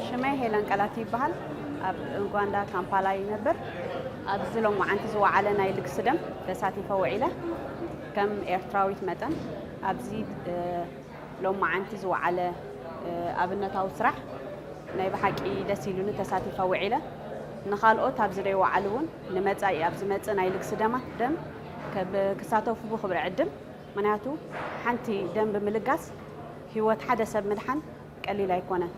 ሽመይ ሄለን ቀላቲ ይበሃል። ኣብ ኡጋንዳ ካምፓላ ይነብር። ኣብዚ ሎማዓንቲ ዝወዓለ ናይ ልግሲ ደም ተሳቲፈ ውዒለ። ከም ኤርትራዊት መጠን ኣብዚ ሎማዓንቲ ዝወዓለ ኣብነታዊ ስራሕ ናይ ብሓቂ ደስ ኢሉኒ ተሳቲፈ ውዒለ። ንኻልኦት ኣብዚ ዘይወዓሉ እውን ንመጻኢ ኣብ ዝመጽእ ናይ ልግሲ ደማ ደም ክሳተፉ ብኽብሪ ዕድም ምክንያቱ ሓንቲ ደም ብምልጋስ ህይወት ሓደ ሰብ ምድሓን ቀሊል ኣይኮነን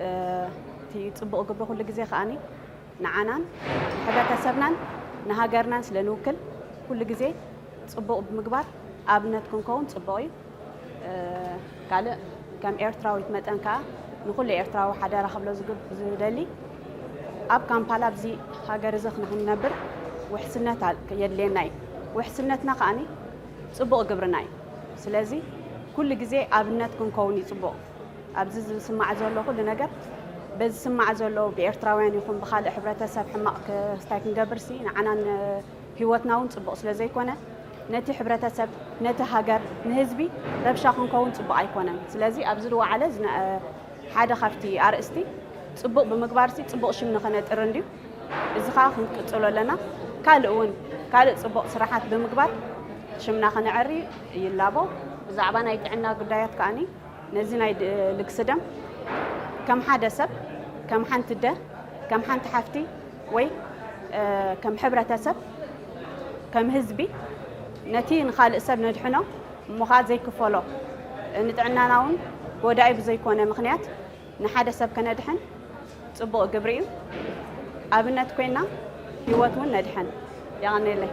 እቲ ጽቡቕ ግብሪ ኩሉ ግዜ ከኣኒ ንዓናን ሕብረተሰብናን ንሃገርናን ስለ ንውክል ኩሉ ግዜ ጽቡቕ ብምግባር ኣብነት ክንከውን ጽቡቕ እዩ ካልእ ከም ኤርትራዊት መጠን ከዓ ንኩሉ ኤርትራዊ ሓደራ ክብሎ ዝደሊ ኣብ ካምፓላ ኣብዚ ሃገር እዚ ክንነብር ውሕስነት የድልየና እዩ ውሕስነትና ከዓኒ ጽቡቕ ግብርና እዩ ስለዚ ኩሉ ግዜ ኣብነት ክንከውን እዩ ጽቡቕ ኣብዚ ዝስማዕ ዘሎ ኩሉ ነገር በዚ ዝስማዕ ዘሎ ብኤርትራውያን ይኹን ብካልእ ሕብረተሰብ ሕማቕ ክስታይ ክንገብርሲ ንዓናን ህይወትና እውን ጽቡቕ ስለ ዘይኮነ ነቲ ሕብረተሰብ ነቲ ሃገር ንህዝቢ ረብሻ ክንከውን ጽቡቕ ኣይኮነን ስለዚ ኣብዚ ዝወዓለ ሓደ ካብቲ ኣርእስቲ ጽቡቕ ብምግባርሲ ጽቡቕ ሽም ንኸነጥሪ እንድዩ። እዚ ከኣ ክንቅጽሎ ኣለና። ካልእ እውን ካልእ ጽቡቕ ስራሓት ብምግባር ሽምና ከነዐሪ ይላቦ። ብዛዕባ ናይ ጥዕና ጉዳያት ከኣ ነዚ ናይ ልግሲ ደም ከም ሓደ ሰብ፣ ከም ሓንቲ ኣደ፣ ከም ሓንቲ ሓፍቲ ወይ ከም ሕብረተሰብ፣ ከም ህዝቢ ነቲ ንኻልእ ሰብ ነድሕኖ፣ እሞ ኸኣ ዘይክፈሎ ንጥዕናና እውን ጐዳኢ ብዘይኮነ ምኽንያት ንሓደ ሰብ ከነድሕን ጽቡቕ ግብሪ እዩ። ኣብነት ኮይና ህይወት እውን ነድሕን። የቐኔለይ።